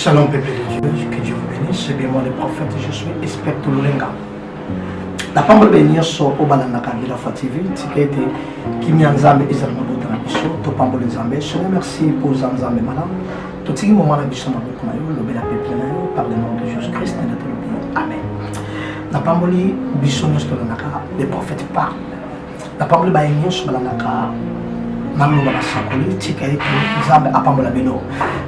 Shalom peuple de Dieu, que Dieu vous bénisse. C'est bien moi le prophète, je suis expert Tululenga. La pambe benir so obalanda kabila fa TV, tika ete kimia nzambe ezali mabota na biso, topamboli nzambe. Je remercie pour nzambe malam. totiki moma na biso na maboko na yo lobela peple na yo par le nom de jesus christ nde tolobi amen napamboli biso nyonso tolandaka le prophète parle napamboli baye nyonso balandaka naloba basakoli tika ete nzambe apambola bino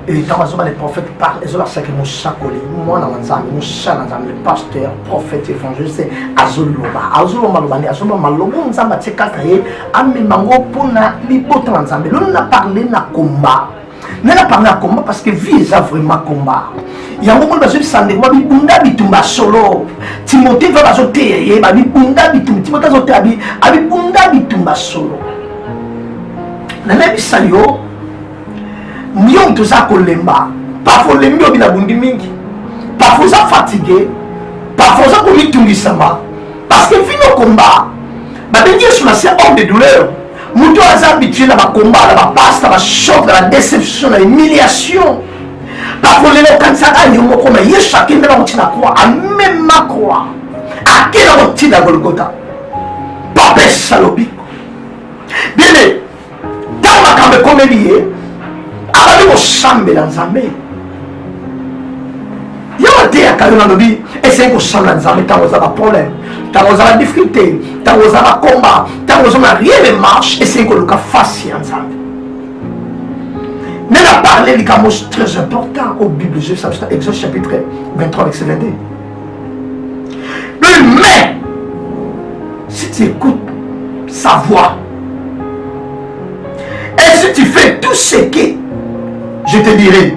ntango azoba le prophète parle ezolakisaki mosakoli mwana wa nzambe mosala nzambe pasteur prophète évangéliste azoloba azoloba loba nde azoloba maloba oyo nzambe atie kaka ye amema yango mpo na libota na nzambe lolo na parle na komba ngai na parle ya combat parce que vie eza vraiment combat yango moni bazobisa ndeko babibunda bitumba solo timote va bazoteya ye babibunda bitumba timote azoteya abibunda bitumba solo nalebisa yo yo moto oza kolemba parfois olembi obi na bundi mingi parfois oza fatigue parfois oza komitungisama parce que vino combat babengi yesu masiya homme de douleur moto aza habitué na bakomba na bapasta bachoc na badeception na humiliation bakolela okanisaka yo moko na yesu akende na kotina kwa amema kwa ake na kotina golgota papesa lobiko bene ntango makambo ekomeli ye abandi kosambela nzambe yo bateyaka yo nalobi esengeli kosala nzambe ntango oza baproblème ntango oza na difficulté ntango oza na combat ntango oza na rien de marche esengeli koluka face ya nzambe me na parle likambo très important o bible ezobisa biso na exode chapitre 23 verset 22 le mais si tu écoutes sa voix et si tu fais tout ce que je te dirai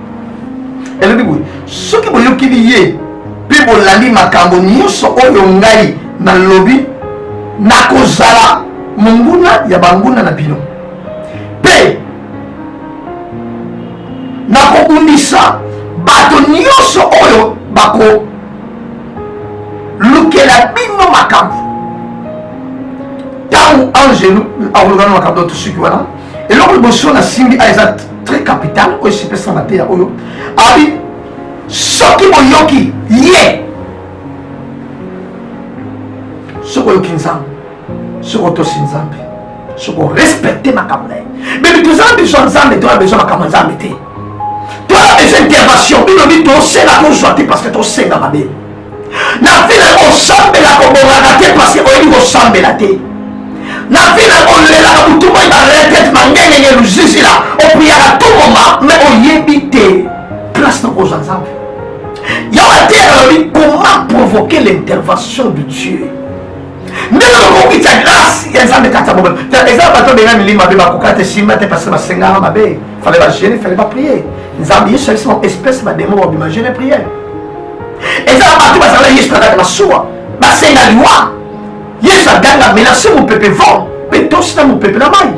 elobi boye soki boyokeli ye mpe bolandi makambo nyonso oyo ngai nalobi nakozala monguna ya banguna na bino mpe nakobundisa bato nyonso oyo bakolukela bino makambo ntango angelu akolukana makambo to tosuki wana eloko liboso nasimbi a eza très capital oyo esipesa mateya oyo abi soki boyoki ye soki oyoki nzambe soki otosi nzambe soki orespecte makambo na ye bebi toza na besoin nzambe toya besoin makambo ya nzambe te toya besoin intervention bino bi tosela tozwa te parce que tosenga mabe na vie na yo kosambela kobongaka te parce que oyebi kosambela te na vie na yo kolelaka butu moi baretete mangengenge luzizila opriyaka to moma me oyebi te place na kozwa nzambe yawa te alobi comment provoquer l'intervention de dieu nde nakoki tya grâce ya nzambe kati ya bomoi eza bato benga milimo mabe bakoka te simba te parce basengaka mabe fale bagene fale baprie nzambe yesu alisi bango espèce bademo babima gene priere eza bato bazala yesu na kati masuwa basenga liwa yesu aganga menase mopepe vent mpe tosi na mopepe na mai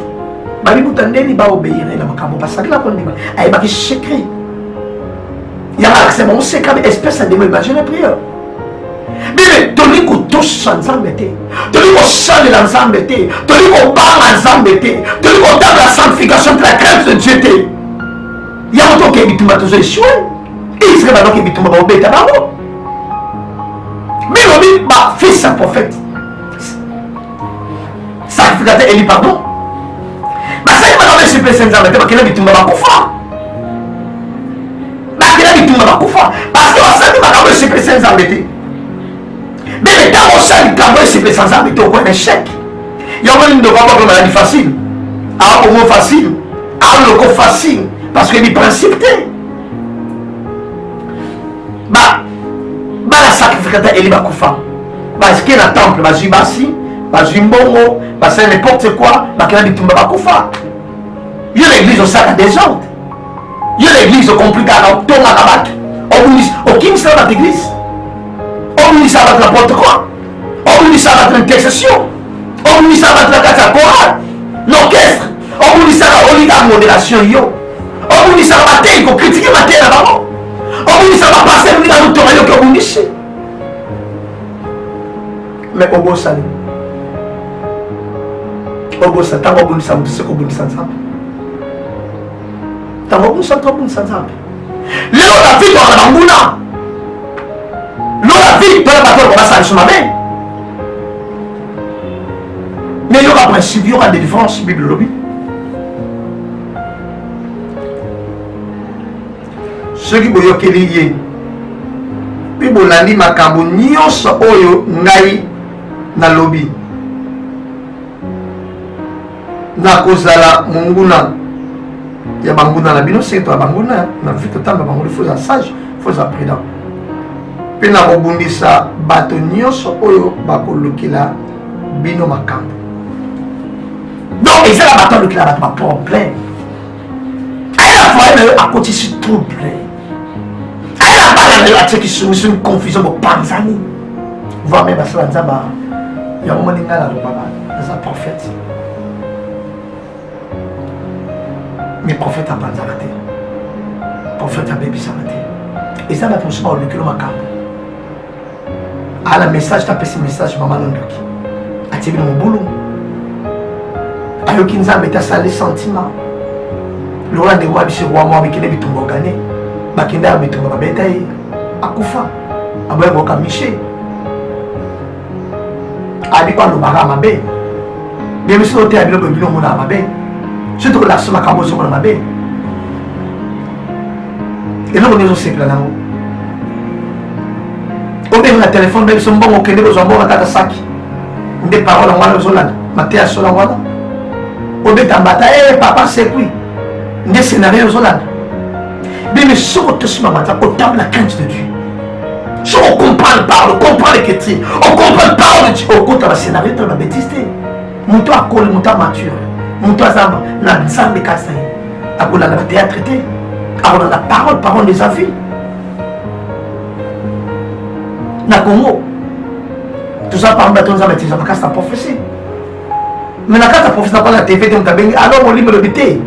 bamibuta ndeni baobeire na makambo basakela kondima ayebaki secret yanga alakisa bango sekami espèce ya demo ebagene priere bebe tolingi kotosa nzambe te tolingi kosalela nzambe te tolingi kobanga nzambe te tolingi kotanga sanctification te la crainte de dieu te yango toke bitumba tozo esue israel banoke bitumba baobeta bango bino bi bafils ya prophète sacrificateur eli pardon basali makambo esupesa nzambe te bakenda bitumba bakufa bakenda bitumba bakufa parce que basali makambo esupesa nzambe te bele ntango osali likambo esupesa nzambe te okoya na echec yango nini ndoko aboko maladi facile akomo facile aloko facile parce que biprincipe te ba bana sacrificata eli bakufa bazike na temple bazwi basi bazwi mbongo basali n'importe quoi bakela bitumba bakufa yo na église osala desordre yo na église okomplikaka otongaka bato okimisaka bato église obimisaka bato na porte quoi obimisaka bato na intercession obimisaka bato na kati ya chorale l'orchestre obunisaka olika en moderation yo obunisaka batei kokritike mateya na bango obunisaka baparcele ndenge azotonga yoki obunisi me obosani obosa ntango obundisa moto se kobundisa nzambe ntango obundisa moto obundisa nzambe lelo na vie tozala banguna lola vie mpona bato oyo basalisi mabe Mais il y aura principe, il y aura délivrance, Bible lobby. soki boyokeli ye mpe bolandi makambo nyonso oyo ngai nalobi nakozala monguna ya banguna na bino seke toya banguna na vie totamba bango li foza sage foza prudent mpe nakobundisa bato nyonso oyo bakolukela bino makambo donc eza na bato alukela bato baproblème aya na foye na yo akotisi trouble aya na bana na yo atiaki somisoni confusion bopanzani voi me basala nzambe yango moni ngai nalobaka naza prophète mais prophète apanzaka te prophète abebisaka te eza bato mosusu baolukelo makambo ala message tapesi message mama na ndoki atie bino mobulu ayoki nzambe te asali sentiment lokola ndeko wa biso wa mwa bikende bitumba ogane bakenda ya bitumba babeta ye akufa aboya koyoka mishe abi balobaka mabe bie biso toteya biloko bino omonaka mabe soki tokolasomaka bozomona mabe eloko nde ozosepela nango obenga na telefone mpe biso mbongo okende kozwa mbongo na kaka saki nde parole yango wana ozolanda mateya ya solo yango wana obeta mbata e papa sekui nde scénario ozolanda bimi soki otosima mbata otambola crainte de dieu soki ocomprendre parole ocomprendre ke ti ocomprendre parole ti okota bascénario tala babétise te moto akoli moto amature moto azamba na nzambe kasi na ye akolanda na théâtre te akolanda parole parole des avis na congo toza parmi bato nzambe atizaka kasi na prophesie mais na kati ya prophesie nakola na tv te moto abengi alors molimo elobi te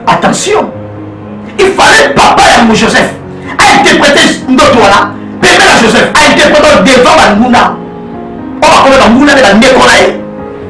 attention il fallait papa yango joseph ainterprete ndoto wana pembe na joseph ainterprete devant banguna oyo bakomi banguna nde bandeko na ye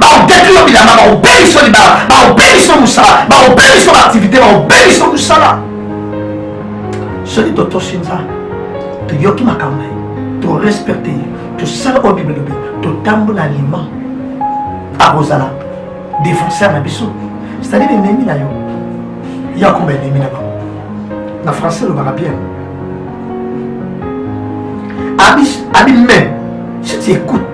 baobeti yo bilanga baobeli so libala baobeli so mosala baobeli so baaktivité baobeli so mosala soki totosi nzambe toyoki makambo ye torespecte ye tosala oyo bible elobi totambola alima akozala défenseur na biso c'est-à-dire enemi na yo ye akoma enemi na bango na français elobaka bien abi abi mais si tu écoutes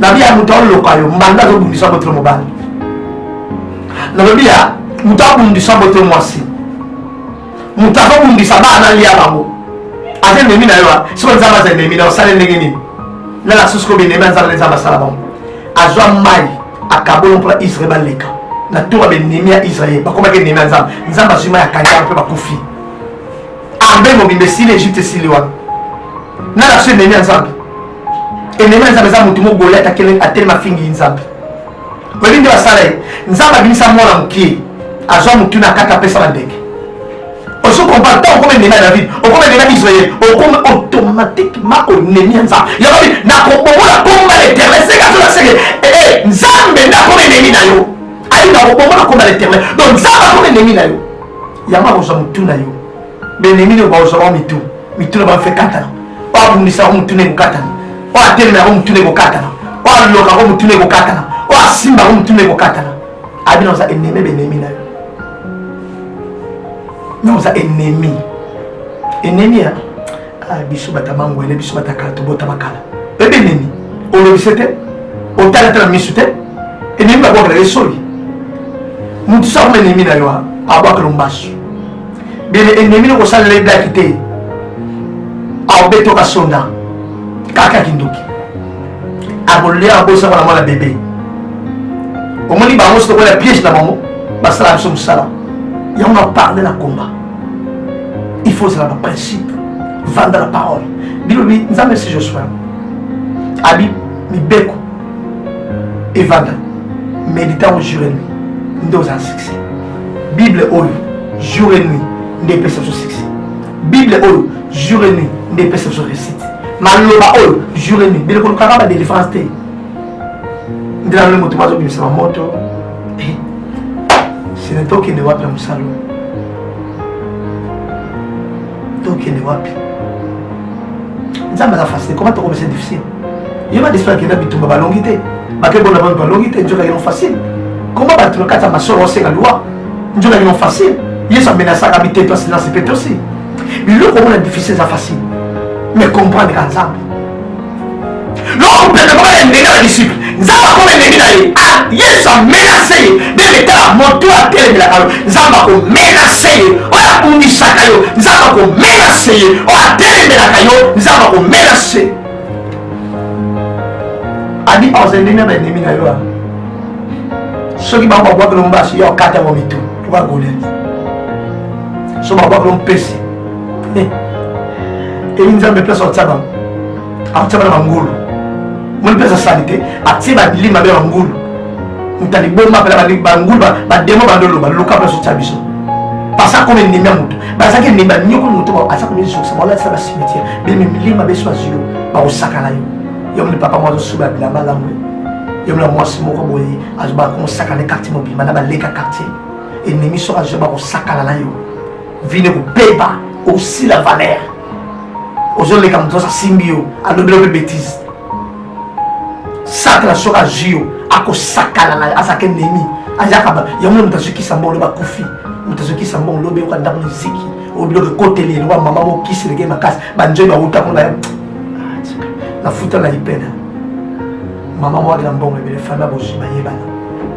nabi ya moto aloka yo mbanda azobundisa boto mobali nalobi ya moto abundisa boto mwasi moto azobundisa bana alia bango aza enemi na yo soki nzambe aza enemi na osali ndenge nini na na susu kobi enemi ya nzambe na nzambe asala bango azwa mai akabolo mpo na israel baleka na tour ya benemi ya israel bakomaki enemi ya nzambe nzambe azwi mai akanga mpe bakufi arme mobimba esili egypte esili wana na na susu enemi ya nzambe enemi ya nzambe eza motu mo goliat atelema afingi nzambe oyebi nde basala ye nzambe abimisa mwana mokie azwa motu na kati apesa bandeke ozo comprendre ntango okoma enemi ya david okoma enemi ya israel okoma automatiquement enemi ya nzambe yakobi nakobomola komba leterne seka tola seke ee eh, eh, nzambe nde akoma enemi na yo alinga kobomola komba leterne donc nzambe akoma enemi na yo yango akozwa motu na yo benemi nde bakozwa bango mitu mitu na bango fe katana oyo abundisa yango motu na ekokatana oyo atelema yango motu na ekokatana oyo aloka yango motu na ekokatana oyo asimba yango motu na ekokatana abino oza enemi benemi na yo me oza enemi enemi ya Ah, biso bata mangwele biso bata kala tobotama kala bebe nini olobise te otalatala misu te enemi babwakela ye soli motu sakoma enemi na yo abwakela mbasu bebe enemi nokosalela eblaki te aobetoka sonda kaka kindoki akolia abosaka na mwana bebe omoni bango sotokola piège na bango basala biso mosala yango na parle na combat il faut ozala na principe vanda na parole bilobi nzambe si josue abi mibeko evanda méditant jour et nuit nde oza na succès bible oyo jour et nuit nde epesa biso succès bible oyo jour et nuit nde epesa biso réussite maloba oyo jour et nuit biloko lukaka badelivrance te nde nalole moto bazobimisa bamoto sene eh, tokende wapi ya mosala tokende wapi nzambe aza facile koma tokomisa difficile ye badespo akenda bitumba balongi te bakebona bantu balongi te nzoka kino facile koma bato na kati ya masolo osenga liwa nzoka kino facile yesu amenasaka biteto asinasi petosi biloko omona difficile eza facile mais comprendre ka nzambe loko pete koma ya ndenge na disciple nzambe akoma eleki na ye ah, yesu amenase ye bebe tala moto atelemelaka yo nzambe akomenase ye oyo akumisaka yo nzambe akomenase ye oyo atelemelaka yo nzambe akomenase adi ozendemia baenemi na yo ah. soki bango babwakelo mbasi yo okata yango mitu lokola goliati so babwakelo mpesi eyi nzambe place atia bango akotia bana bangulu moni place asali te atie badili mabe ya bangulu moto aliboma apela bangulu bademo bandoloba luka place otia biso pasi akoma endemi ya moto bazalaki endemi ya nyoko moto aza komizokisa baolatisa basimetiere bimi milima beso azwi yo bakosakana yo yo moni papa mwa azosuba ya bilamba lamu yo mona mwasi moko boye azobakosakana quartier mobimba na baleka quartier enemi soko azwi bakosakana na yo vine kobeba osila valeur ozoleka moto oza simbi yo alobela mpe betise satana soki azwi yo akosakana na azalaka enemi azalaka yango moto azokisa mbongo loba kufi moto azokisa mbongo lobi yoka ndako na ziki oyo biloko ekoteli eloba mama mokisi leke makasi banzoi bawuta kuna ah, nafuta na lipena mama mwaki na mbongo ebele fanda bozwi bayebana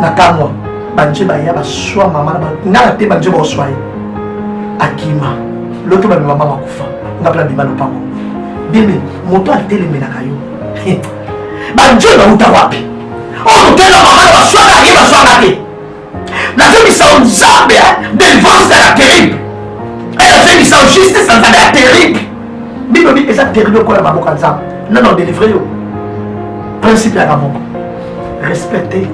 na kamwa banje baya baswa mama na nga na te banje baoswa ye akima loto bamema mama kufa nga pela bima lopango bebe moto atelemelaka yo banje bauta wapi oyo motela mama na baswaka ye baswaka te nazongisa o nzambe delivance na ya terrible nazongisa o justice na nzambe ya terrible bino bi eza terrible okola maboko ya nzambe nano delivre yo principe yaka moko respecte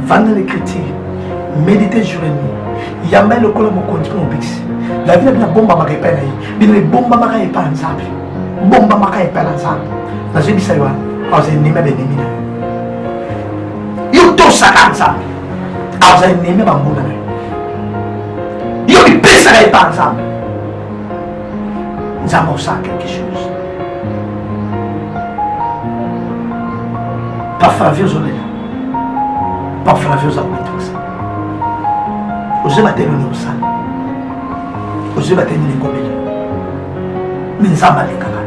vanda na écriture médite jour et nuit yamba ye lokola mokonzi mpe mobikisi la vie na bino abombamaka epai na ye bino ebombamaka epai ya nzambe bombamaka epai na nzambe nazobisa yo wana aza enemi ya benemi na yo yo tosaka nzambe aza enemi ya bambuna na yo yo mipesaka epai ya nzambe nzambe osala quelque chose paflavi ozolela paflavi oza komitokisa ozoyeba te nini osala ozoyeba te nini ekobela mi nzambe alekaka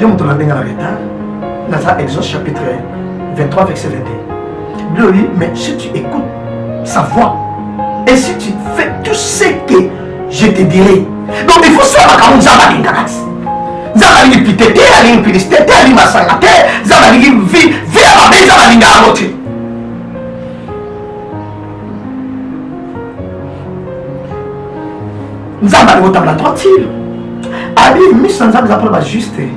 yo moto na ndenge na retard naza exode chapitre 23 verset 21 Glory, mais si tu écoutes sa voix et si tu fais tout ce que je te dirai donc il faut sala makambo nzambe alingaka ti nzambe alingi pite te alingi piliste te alingi masanga te nzambe alingi vi vi ya mabe nzambe alingaka yango te nzambe alingi otambola tranquille abi miso ya nzambe eza mpona bajuste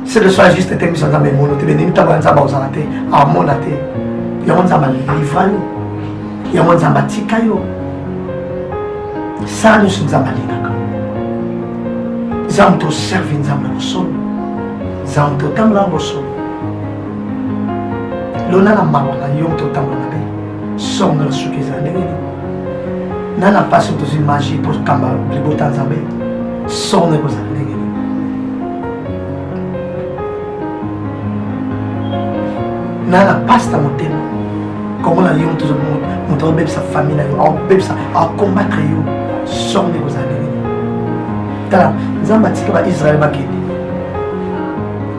seke soa juste te miso ya nzambe emono te benemi ntango ya nzambe akozala te amona te yango nzambe alivra yo yango nzambe atika yo sala nyonso nzambe alingaka nzambe toservi nzambe na bosolo nzambe totambola na bosolo lona na mawa na yo moto otambola mabe songa na suki ezala ndenge nini na na mpasi oyo tozwi magi mpo kamba libota ya nzambe soko na ekozala ndenge nini na na mpasi na motema komona yo moto moto akobebisa famille na yo akobebisa akombatre yo soko na ekozala ndenge nini tala nzambe atika baisraele bakende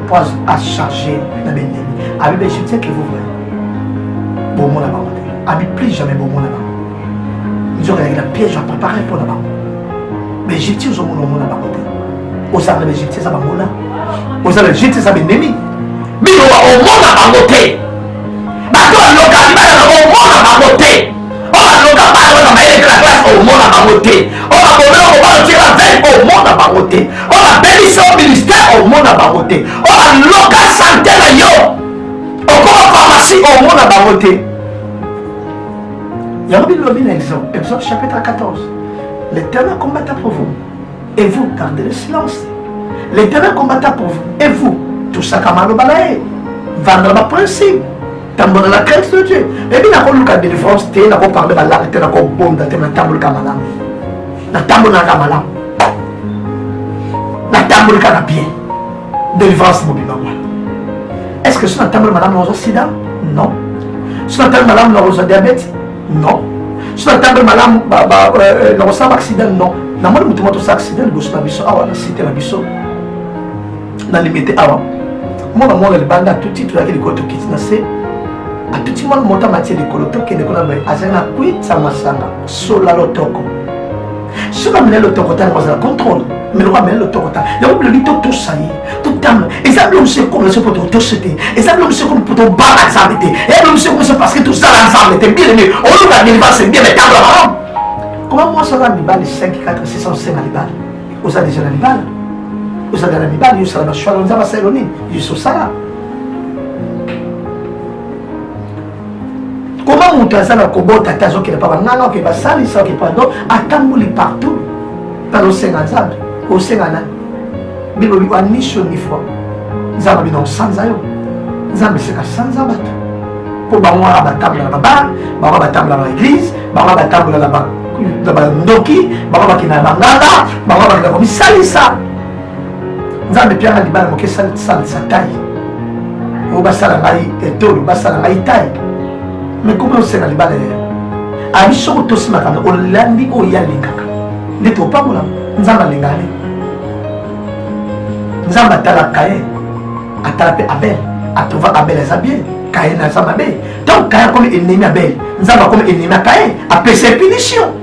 mpo acharge na bendemi abebeshi tieke vous voyez bomona bango Abi plus jamais bomona bango. Nzoka ya piège à préparer pour la bango. Mais Egyptien zo mona mona bango te. Ozala na Egyptien za bango la. Ozala Egyptien za benemi. Bino wa omona bango te. Bato aloka bana na omona bango te. Oba aloka bana na mayele la classe omona bango te. Oba komela ko bana tira ven omona bango te. Oba beliso ministère omona bango te. Oba loka santé na yo. okoma pharmacie omona bango te yango bilobi na exode exode chapitre 14 l'éternel combatta pour vous et vous gardez le silence l'éternel combatta pour vous et vous tosaka maloba na ye vandela baprincipe tambola na crainte de dieu ebi nakoluka délivrance te nakoparle balaka te nakobonda te natambolika malamu natambolaka malamu natambolika na bien Délivrance mobimba mwana. Est-ce que sina tambala malamu nakozwa sida? Non. Sina tambala malamu nakozwa diabète? Non. Sina tambala malamu ba ba euh, euh, nakosala accident? Non. Na moni mutu moto sa accident liboso na biso awa na site na biso. Na limite awa. Mwana mwana libanda tout titre yaki likolo tokiti na se atuti mwana moto amati likolo tokende kuna boye azali na kwitsa masanga sola lotoko soki amela elotokota yango azala contrôle meloko amela elotokota yango bilobi totosa ye totanga eza bilo mosu ekomela so mpo totose te eza bilo mosu ekomi mpo tobanga nzambe te eza bilo mosu ekomi so parce que tozala nzambe te bien aimé oloba nilivase bien mais tanga malamu koma mwasi aza mibali 5 4 6 osenga libala oza deja na libala ozala na mibali yosala bashwalo nzambe asalelo nini yososala koma moto aza na kobota ata azokende pa banganga oke basalisa oke pardon atamboli partout mpana osenga nzambe osenga nani bino biko anisio ni foi nzambe bino osanza yo nzambe seka sanza bato mpo bango wana batambola na babare bango batambola na eglise bango batambola na bandoki bango bakenda na banganga bango bakenda komisalisa nzambe pianga libala moke salisa tai oyo basala ngai etolo basala ngai tai me komi osenga libala ya abi soko tosi makambo olandi oyo ye alingaka nde topambola nzambe alingaka nini nzambe atala kayen atala mpe abel atrouva abel aza bien kayen aza mabe ntango kayen akomi ennemi abel nzambe akomi ennemi ya kayen apesa punition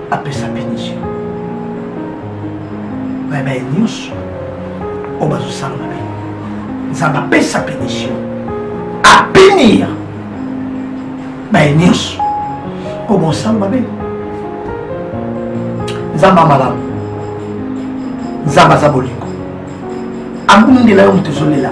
apesa punition na baye nyonso oyo bazosala mabe nzambe apesa punition apinir baye nyonso oyo bosala mabe nzambe amalamu nzambe aza bolingo abundela yo moto ezolela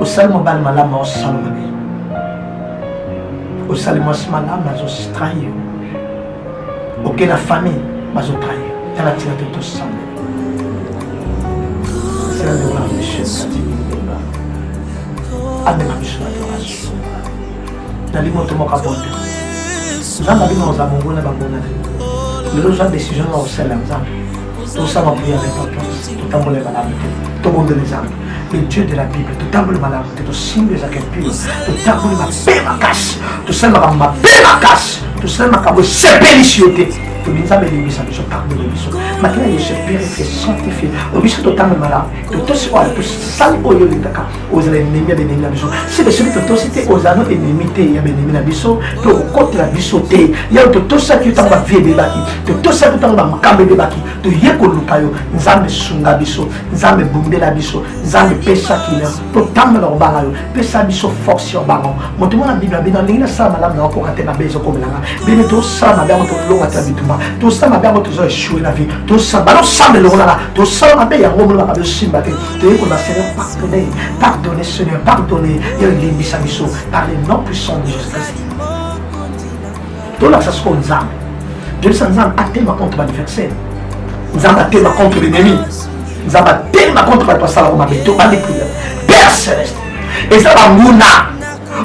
osali mobali malamu aosala mabe osali mwasi malamu azostrahi yo oke na famille bazotrahi yo tala tika te tosambela amema biso na adoration nalingi moto moko abota nzambe abino oza bongo na bangona lelo ozwa décision na kosala nzambe tosala mpo ya repentance totambola ebalamu te tobondeli nzambe le dieu de la bible totamboli malamu te tosimbi ezalaka mpio totamboli mabe makasi tosali makambo mabe makasi tosali makambo esepelisi yo te tobi nzambe elembisa biso pardon na biso makila yesu purifie sanctifie obiso totamboli malamu totosi oyo tosali oyo olingaka ozala enemi ya benemi na biso sebe soki totosi te ozala no enemi te ya benemi na biso mpe okokotela biso te yayo totosaki yo ntango bavie ebebaki totosaki ntango bamakambo ebebaki toye koluka yo nzambe sunga biso nzambe bundela biso nzambe pesa kimia totambola kobanga yo pesa biso force ya kobanga yo moto mona bible abino alingi nasala malamu na okoka te mabe ezokomelanga bino tosala mabe yango tolonga te na bitumba tosala mabe yango tozo echue na vie tosala balosamba elongolaka tosala mabe yango omona mabe osimba te toyei koyeba seigneur pardonne pardonne seigneur pardonne yo elimbisa biso par le nom puissant de jésus christ tolakisa sikoyo nzambe toyebisa nzambe atemba contre baadversaire nzambe atemba contre l'ennemi nzambe atemba contre bato basalaka mabe to balikila père celeste eza banguna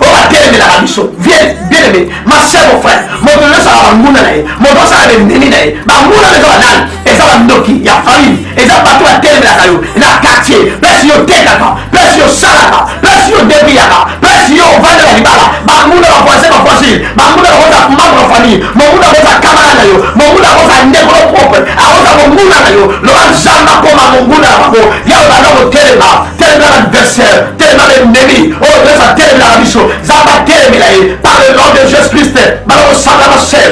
oyo batelemelaka biso vieleme masebo frère moto nyonso aka banguna na ye moto osala bendemi na ye banguna na eza banani eza bandoki ya famille eza bato batelemelaka yo na quartier place yo tekaka place yo salaka place yo debiyaka place yo ovandela libala banguna bavoisin bavoisine banguna bakoza membre ya famille monguna akoza kamara na yo monguna akoza ndeko no propre akoza monguna na yo loba nzambe akoma monguna na bango ya obanda kotelema telemela na adversaire telemela na ennemi oyo oh, toyesa telemela na biso nzambe atelemela ye par le nom de jesus christ bana kosangana sel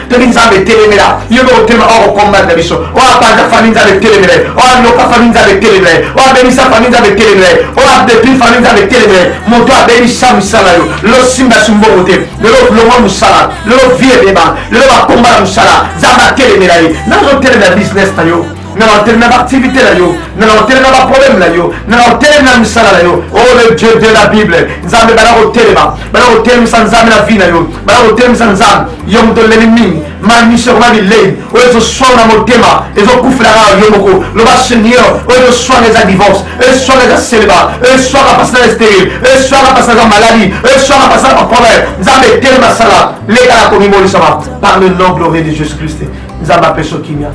Fami Nzambe etelemela yo mpe otelema oyo kokombata biso oyo abanda fami Nzambe etelemela ye oyo ayoka fami Nzambe etelemela ye oyo abebisa fami Nzambe etelemela ye oyo adepi fami Nzambe etelemela ye moto abebisa mosala yo lelo simbasi mbongo te lelo longwa mosala lelo vie ebeba lelo bakomba na mosala Nzambe atelemela ye nazotelemela business na yo na otele na baaktivité na yo na otele na baproblème na yo na otele na misala na yo o oh, le dieu de la bible nzambe bana kotelema bana kotelemisa nzambe na vie na yo bana kotelemisa nzambe yo moto oleli mingi mamiso ekoma bilei oyo ezoswana na motema ezokufela kaka yo moko loba seigneur oyo ezoswana eza divorce oyo eswana eza seleba oyo eswaka mpasi na estere oyo eswaka mpasi naza maladi oyo eswaka mpasi na baproblème nzambe etelema sala leka na komibolisama par le nom glorieux de jésus christ nzambe apeso kimia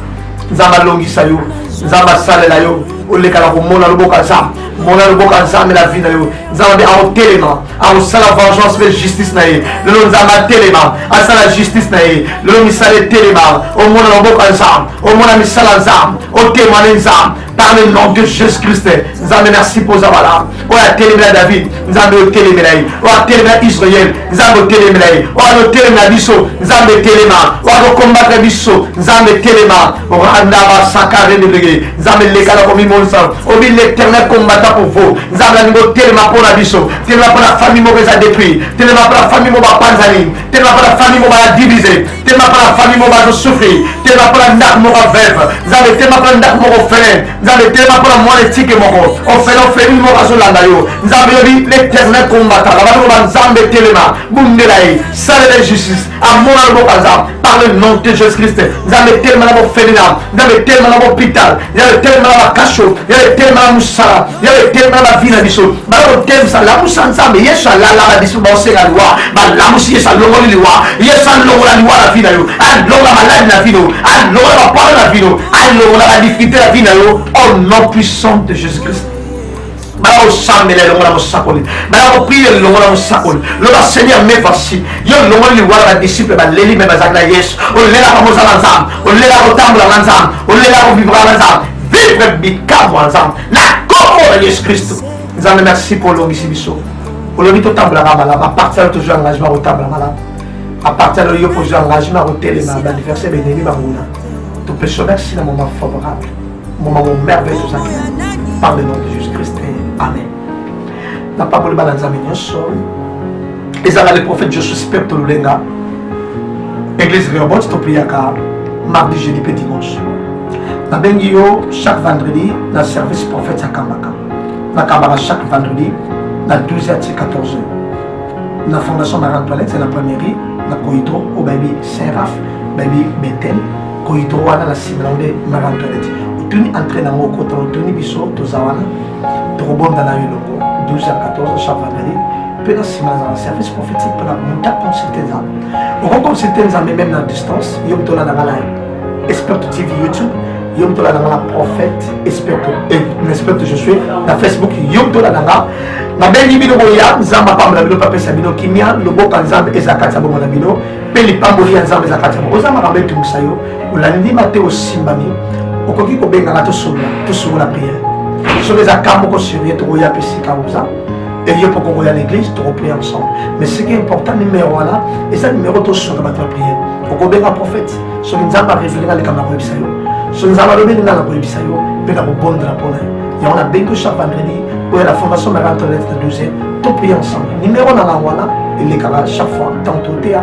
nzambe alongisa yo nzambe asalela yo olekala komona loboko ya nzambe mona loboko ya nzambe na vi na yo nzambe mpe akotelema akosala vengeance mpe justice na ye lelo nzambe atelema asala justice na ye lelo misala etelema omona loboko ya nzambe omona misala nzambe otemane nzambe par le nom de jésus christ nzambe merci mpo oza malamu oyo atelemela david nzambe otelemela ye oyo atelemela israel nzambe otelemela ye oyo azotelemela biso nzambe telema oyo azokombatre biso nzambe telema randa basakarendebege nzambe leka na komimonisa obi l'éternel combattant pour vous nzambe alingi otelema mpo na biso telema mpo na famille moko eza détruit telema mpo na famille moko bapanzani telema mpo na famille moko baya divise tema mpona famille moko bazo souffrir tema mpona ndako moko veuve nzambe tema mpona ndako moko ofele nzambe tema mpona mwana etike moko ofele ofeli moko azolanda yo nzambe yobi l'éternel combattant babandi koba nzambe telema bundela ye salela justice amona loboko aza par le nom de jésus christ nzambe telema na bofeli na nzambe telema na bopital nzambe telema na bakasho nzambe telema na mosala nzambe telema na bavi na biso bakotemisa lamusa nzambe yesu alalaka biso baosenga liwa balamusi yesu alongoli liwa yesu alongola liwa na vi na yo alongola maladi na vi na yo alongola bapolo na vi na yo alongola badifikulte na vi na yo au nom puissant de jésus christ bakosambela elongo na mosakoli bakopria elongo na mosakoli loba seigneur me voici yo olongoli liwa na badisiple baleli me bazali na yesu olelaka mozala nzambe olelaka kotambula na nzambe olelaka kovivraka na nzambe vivre bikamwa nzambe na kombo na yesu kristo nzambe merci mpo olongisi biso olobi totambolaka malamu aparti alo tozwi engagement ya kotambola malamu aparti alo yo kozwi engagement ya kotelema baanniversaire benemi banguna topesi yo merci na moment favorable moment mo merveille tozaki par le nom de jésus christ amen napamboli bana nzambe nyonso ezala le prophète josu spepto lulenga église reobot topriaka mardi jeudi mpe dimanche nabengi yo chaque vendredi na service prophète ya kambaka nakambaka chaque vendredi na 12 h ti 14 h na fondation marie antoinette ya na premierie na koyitro oyo bayebi saint raf bayebi betel koyitro wana na nsima na nde marie antoinette otuni entre nango okota otuni biso toza wana tokobonda na yo elongo 12 ya 14 chaque vendredi mpe na nsima naza na service prophétique mpona muta consulte nzambe oko consulte nzambe meme na distance yo moto olanda nga na esperto tv youtube yo moto olanda nga na prophète esperto eh, esperto je suis na facebook yo moto olanda nga nabengi bino boya nzambe apambola bino mpe apesa bino kimia loboka nzambe eza kati ya bongo na bino mpe lipamboli ya nzambe eza kati ya bongo oza makambo etumbusa yo olandima te osimbami okoki kobengana tosolola tosolola priere soki eza ka moko sur ye tokoya mpe esika oza eye mpo kokoya na église tokoprie ensemble mais ce qui est important numero wana eza numero tosolola bato ya priere okobenga prophète soki nzambe arevelinga alikambo na koyebisa yo soki nzambe alobeli nga na koyebisa yo mpe na kobondela mpo na yo yango nabengi yo chaque vendredi oya na fondation mari antoinette na 12 toprie ensemble numero na na wana elekaka chaque fois tantotea